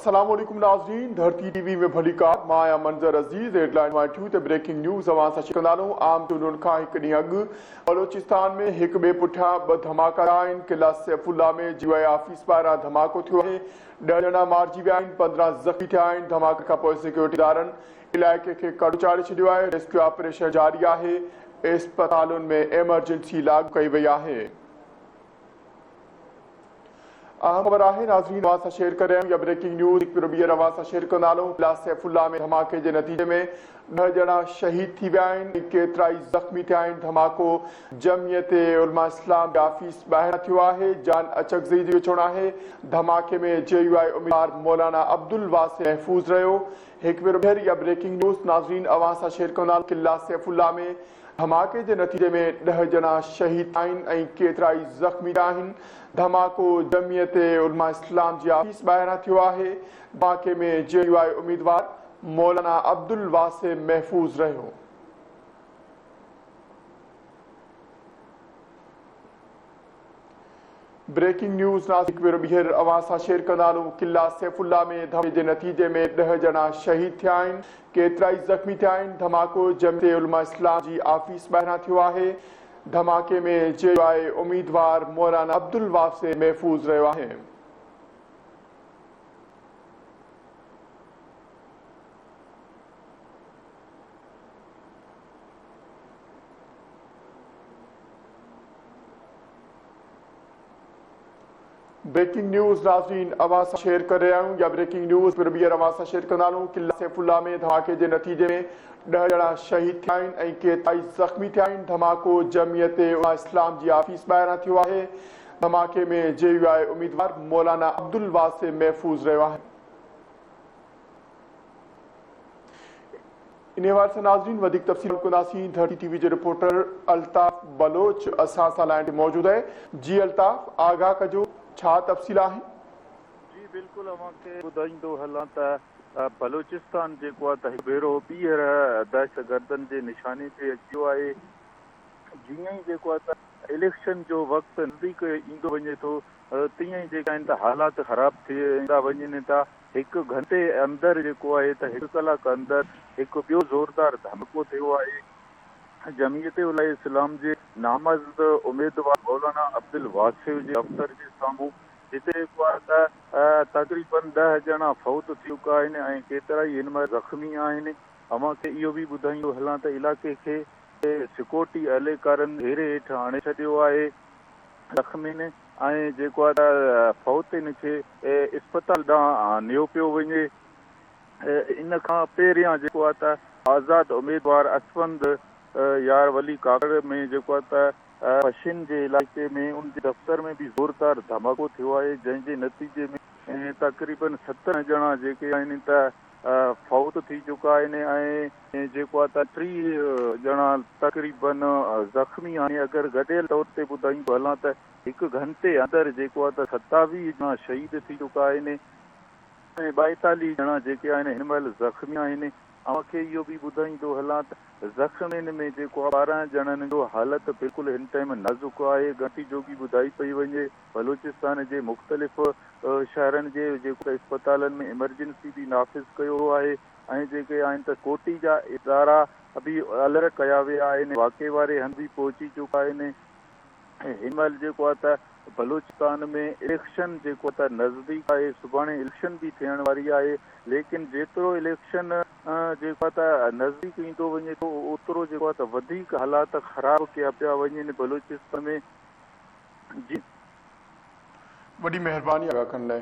السلام عليڪم ناظرين ڌرتي ٽي وي ۾ ڀليڪار مان آهيان منظر عزيز هيڊلائين مائٽيون تي بريڪنگ نيوز اوهان سان شيئر ڪندا رهون عام چونڊن کان هڪ ڏينهن اڳ بلوچستان ۾ هڪ ٻئي پٺيان ٻه ڌماڪا ٿيا آهن قلعه سيف الله ۾ جي آء آفيس ٻاهران ڌماڪو ٿيو آهي ڏهه ڄڻا مارجي ويا آهن پندرهن زخمي ٿيا آهن ڌماڪي کانپوء سيڪيورٽي ادارن علائقي کي ڪڙو چاڙهي ڇڏيو آهي ريسڪيو آپريشن جاري آهي اسپتالن ۾ ايمرجنسي لاڳو ڪئي وئي آهي. اهم خبر آهي ناظرين اوهان سان شيئر ڪريم يا بريڪنگ نيوز هڪ ڀيرو ٻيهر اوهان سان شيئر ڪندالون ضلع سيف الله ۾ ڌماڪي جي نتيجي ۾ ڏهه ڄڻا شهيد ٿي ويا آهن ۽ ڪيترائي زخمي ٿيا آهن ڌماڪو جمعيت علماء اسلام جي آفيس ٻاهران ٿيو آهي جان اچڪزئي جو چوڻ آهي ڌماڪي ۾ جي يو آء اميدوار مولانا عبدالواسع محفوظ رهيو هڪ ڀيرو ٻيهر يا بريڪنگ نيوز ناظرين اوهان سان شيئر ڪندالون ضلع سيف الله ۾ ڌماڪي جي نتيجي ۾ ڏهه ڄڻا شهيد ٿيا آهن ۽ ڪيترائي زخمي ٿيا آهن، ڌماڪو جمعيت علماء اسلام جي آفيس ٻاهران ٿيو آهي، ڌماڪي ۾ جي يو آء اميدوار مولانا عبدالواسع محفوظ رهيو. بريڪنگ نيوز ناسڪ ورو ٻيهر اوهان سان شيئر ڪندا هلون قلعه سيف الله ۾ ڌماڪي جي نتيجي ۾ ڏهه ڄڻا شهيد ٿيا آهن ڪيترائي زخمي ٿيا آهن ڌماڪو جميعت علماء اسلام جي آفيس ٻاهران ٿيو آهي ڌماڪي ۾ جي يو آء اميدوار مولانا عبدالواسع محفوظ رهيو آهي بريڪنگ نيوز ناظرين اوهان سان شيئر ڪري رهيا آهيون يا بريڪنگ نيوز پڻ ٻيهر اوهان سان شيئر ڪندا رهون قلعه سيف الله ۾ ڌماڪي جي نتيجي ۾ ڏهه ڄڻا شهيد ٿيا آهن ۽ ڪيترائي زخمي ٿيا آهن ڌماڪو جمعيت علماء اسلام جي آفيس ٻاهران ٿيو آهي ڌماڪي ۾ جي يو آء اميدوار مولانا عبدالواسع محفوظ رهيو آهي انهيء حوالي سان ناظرين وڌيڪ تفصيل ڪنداسين ته ٽي ٽي وي جي رپورٽر الطاف بلوچ اسان سان لائين تي موجود آهي جي الطاف آگاهه ڪجو ڇا تفصيل آهن. جي بلڪل اوهان کي ٻڌائيندو هلان ته بلوچستان جيڪو آهي ته هڪ ڀيرو ٻيهر دهشتگردن جي نشاني تي اچي ويو آهي جيئن ئي جيڪو آهي ته اليڪشن جو وقت نزديڪ ايندو وڃي ٿو تيئن ئي جيڪا آهن ته حالات خراب ٿيندا وڃن ٿا هڪ گهنٽي اندر جيڪو آهي ته هڪ ڪلاڪ اندر هڪ ٻيو زوردار ڌماڪو ٿيو آهي، جمعيت علماء اسلام جي نامزد اميدوار مولانا عبدالواسع جي دفتر جي سامهون، جتي جيڪو آهي ته تقريبن ڏهه ڄڻا فوت ٿي چڪا آهن ۽ ڪيترائي هن مهل زخمي آهن، اوهان کي اهو به ٻڌائيندو هلان ته علائقي کي سڪيورٽي اهلڪارن گهيري هيٺ آڻي ڇڏيو آهي، زخمين ۽ جيڪو آهي ته فوت ان کي اسپتال ڏانهن نيو پيو وڃي. ان کان پهريان جيڪو آهي ته آزاد اميدوار اسفند يار ولي ڪاڪڙ ۾ جيڪو آهي ته پشين جي علائقي ۾ ان جي دفتر ۾ به زوردار ڌماڪو ٿيو آهي جنهن جي نتيجي ۾ تقريبن سترهن ڄڻا جيڪي آهن ته فوت ٿي چڪا آهن ۽ جيڪو آهي ته ٽي ڄڻا تقريباً زخمي آهن ۽ اگر گڏيل طور تي ٻڌايون به هلان ته هڪ گهنٽي اندر جيڪو آهي ته ستاويهه ڄڻا شهيد ٿي چڪا آهن ۽ ٻائيتاليهه ڄڻا جيڪي آهن هن مهل زخمي آهن. اوهان کي اهو به ٻڌائيندو هلان ته زخمين ۾ جيڪو آهي ٻارهن ڄڻن جو حالت بلڪل هن ٽائيم نازڪ آهي، ڳڻتي جوڳي ٻڌائي پئي وڃي. بلوچستان جي مختلف شهرن جي جيڪي اسپتالن ۾ ايمرجنسي به نافذ ڪيو ويو آهي ۽ جيڪي آهن ته ڪوٽي جا ادارا به الرٽ ڪيا ويا آهن واقعي واري هنڌ به پهچي چڪا آهن ۽ هن مهل جيڪو آهي ته بلوچستان ۾ اليڪشن جيڪو آهي ته نزديڪ آهي سڀاڻي اليڪشن به ٿيڻ واري آهي ليڪن جيترو اليڪشن جيڪو آهي ته نزديڪ ايندو وڃي ٿو اوترو جيڪو آهي ته وڌيڪ حالات خراب ڪيا پيا وڃن بلوچستان ۾ جي وڏي مهرباني آغا کن لاء.